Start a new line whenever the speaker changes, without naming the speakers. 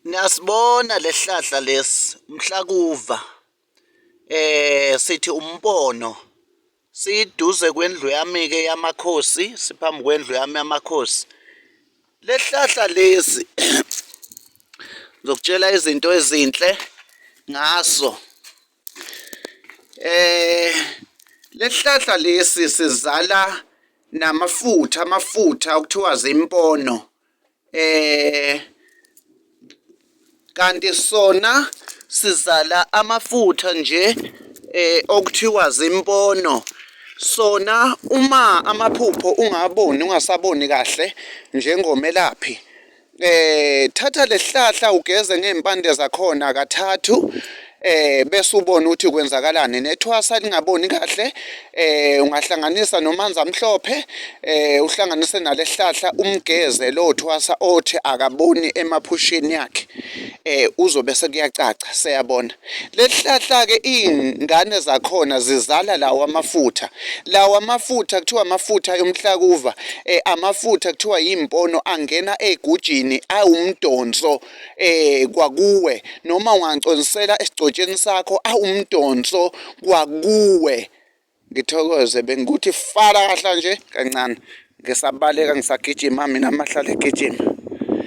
Niyasibona lesihlahla lesi umhlakuva eh sithi umbono siduze kwendlu yami ke yamakhosi siphambi kwendlu yami yamakhosi lesihlahla lesi ngizokutshela izinto ezinhle ngaso eh lesihlahla lesi sizala namafutha amafutha okuthiwa zimpono eh kanti sona sizala amafutha nje eh okuthiwa zimpono sona uma amaphupho ungaboni ungasaboni kahle njengomelaphi eh thatha lesihlahla ugeze ngempande zakhona kathathu eh bese ubona ukuthi kwenzakalani nethwasa lingaboni kahle eh ungahlanganisa nomanzi amhlophe eh uhlanganise nalesihlahla umgeze lo thwasa othi akaboni emaphushini yakhe eh uzobe sekuyacaca seyabona Lesihlahla-ke iy'ngane zakhona zizala lawa amafutha. Lawa amafutha kuthiwa amafutha yomhlakuva, eh, amafutha kuthiwa yimpono angena egujini awumdonso eh kwakuwe noma ungangiconsela esigcotsheni sakho awumdonso kwakuwe. Ngithokoze bengikuthi fala kahla nje kancane. Ngisabaleka ngisagijima mina amahlala egijima.